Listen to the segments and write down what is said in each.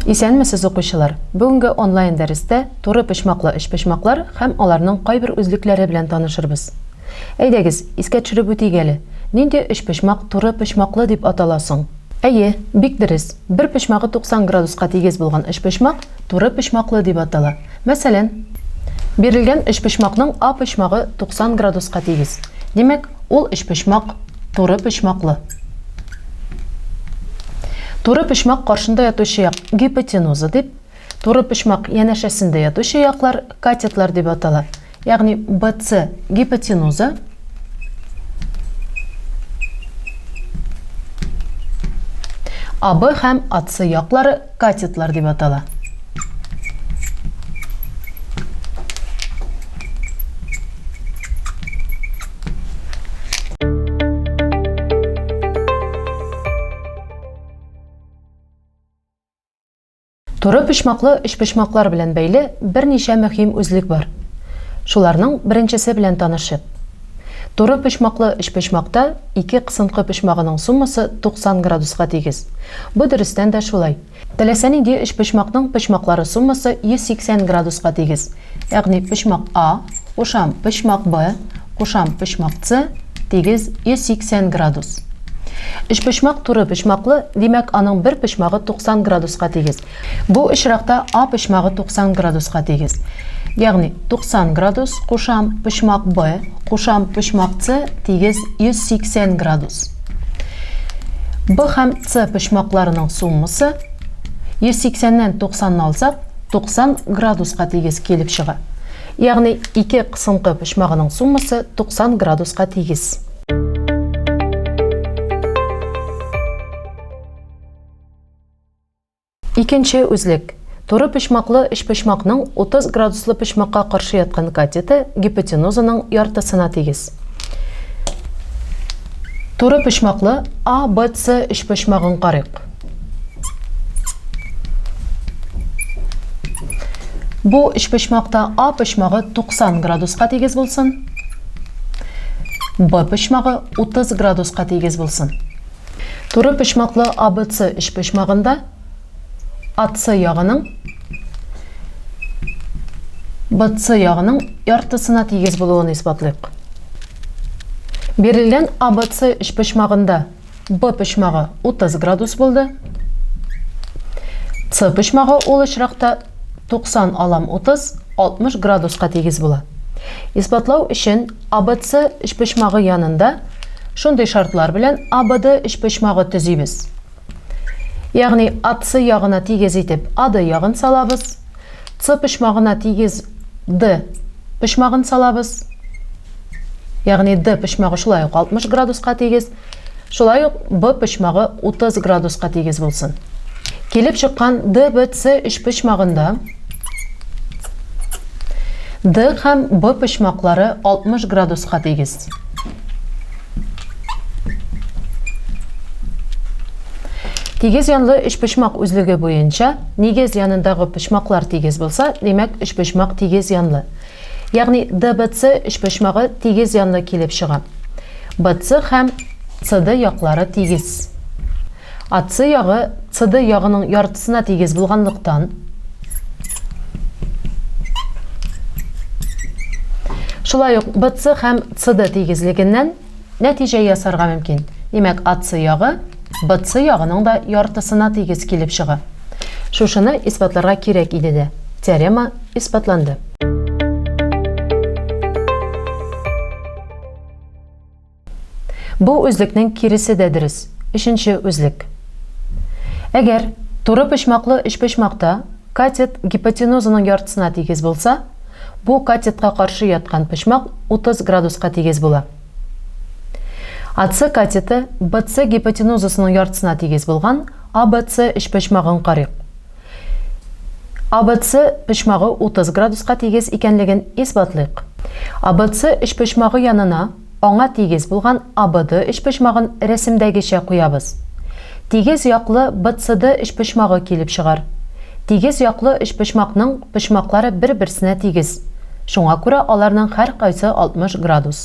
Исәнмесез, укучылар! Бүгенге онлайн дәрестә туры почмаклы өчпочмаклар һәм аларның кайбер үзлекләре белән танышырбыз. Әйдәгез, искә төшереп үтик әле, нинди өчпочмак туры почмаклы дип атала соң? Әйе, бик дөрес, бер почмагы 90 градуска тигез булган өчпочмак туры почмаклы дип атала. Мәсәлән, бирелгән өчпочмакның А почмагы 90 градуска тигез. Димәк, ул өчпочмак туры почмаклы. Туры почмак каршында ятучы як гипотенуза дип, Туры почмак янәшәсендә ятучы яклар катетлар дип атала. Ягъни BC гипотенуза, AB һәм AC яклары катетлар дип атала. Туры почмаклы өчпочмаклар белән бәйле берничә мөһим үзлек бар. Шуларның беренчесе белән танышып. Туры почмаклы өчпочмакта ике кысынкы почмагының суммасы 90 градуска тигез. Бу дөрестән дә шулай. Теләсә нинди өчпочмакның почмаклары суммасы 180 градуска тигез. Ягъни почмак А кушам почмак Б кушам почмак С тигез 180 градус. Өчпочмак туры почмаклы, димәк, аның бер почмагы 90 градуска тигез. Бу очракта А почмагы 90 градуска тигез. Ягъни 90 градус кушам почмак Б кушам почмак С тигез 180 градус. Б һәм С почмакларының суммасы 180 нән 90 ны алсак, 90 градуска тигез килеп чыга. Ягъни ике кысынкы почмагының суммасы 90 градуска тигез. Икенче үзлек. Туры почмаклы өчпочмакның 30 градуслы почмакка каршы яткан катеты гипотенузаның яртысына тигез. Туры почмаклы ABC өчпочмагын карыйк. Бу өчпочмакта А почмагы 90 градуска тигез булсын. Б почмагы 30 градуска тигез булсын. Туры почмаклы АБЦ өчпочмагында АЦ ягының БЦ ягының яртысына тигез булуын исбатлыйк. Бирелгән АБЦ өчпочмагында Б почмагы 30 градус булды. С почмагы ул очракта 90 алам 30, 60 градуска тигез була. Исбатлау өчен АБЦ өчпочмагы янында шундый шартлар белән АБД өчпочмагы төзибез. Ягъни АЦ ягына тигез итеп АД ягын салабыз, С почмагына тигез Д почмагын салабыз. Ягъни Д почмагы шулай ук 60 градуска тигез. Шулай ук Б почмагы 30 градуска тигез булсын. Килеп чыккан ДВЦ өчпочмагында Д һәм Б почмаклары 60 градуска тигез. Тигез янлы өчпочмак үзлеге буенча, нигез янындагы почмаклар тигез булса, димәк, өчпочмак тигез янлы. Ягъни ДБЦ өчпочмагы тигез янлы килеп чыга. БЦ һәм CD яклары тигез. AC ягы CD ягының яртысына тигез булганлыктан, шулай ук BC һәм CD тигезлегеннән Нәтиҗә ясарга мөмкин. Димәк, АЦ ягы БЦ ягының да яртысына тигез килеп чыга. Шушыны исбатларга кирәк иде дә. Теорема исбатланды. Бу үзлекнең киресе дә дөрес. Өченче үзлек. Әгәр турыпочмаклы өчпочмакта катет гипотенузаның яртысына тигез булса, Бу катетка каршы яткан почмак 30 градуска тигез була. АЦ катеты BC гипотенузасының яртысына тигез булган ABC өчпочмагын карыйк. ABC почмагы 30 градуска тигез икәнлеген исбатлыйк. ABC өчпочмагы янына Аңа тигез булган АБД өчпочмагын рәсемдәгечә куябыз. Тигез яклы БЦД өчпочмагы килеп чыгар. Тигез яклы өчпочмакның почмаклары бер-берсенә тигез, шуңа күрә аларның һәркайсы 60 градус.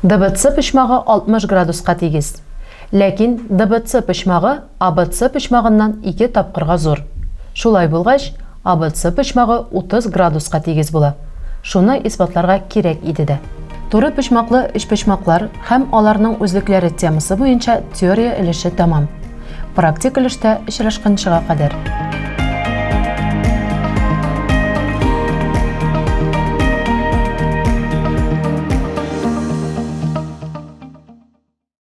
ДБЦ почмагы 60 градуска тигез. Ләкин ДБЦ почмагы ABC почмагыннан ике тапкырга зур. Шулай булгач, ABC почмагы 30 градуска тигез була. Шуны исбатларга кирәк иде дә. Туры почмаклы өчпочмаклар һәм аларның үзлекләре темасы буенча теория өлеше тәмам. Практик өлештә очрашканчыга кадәр.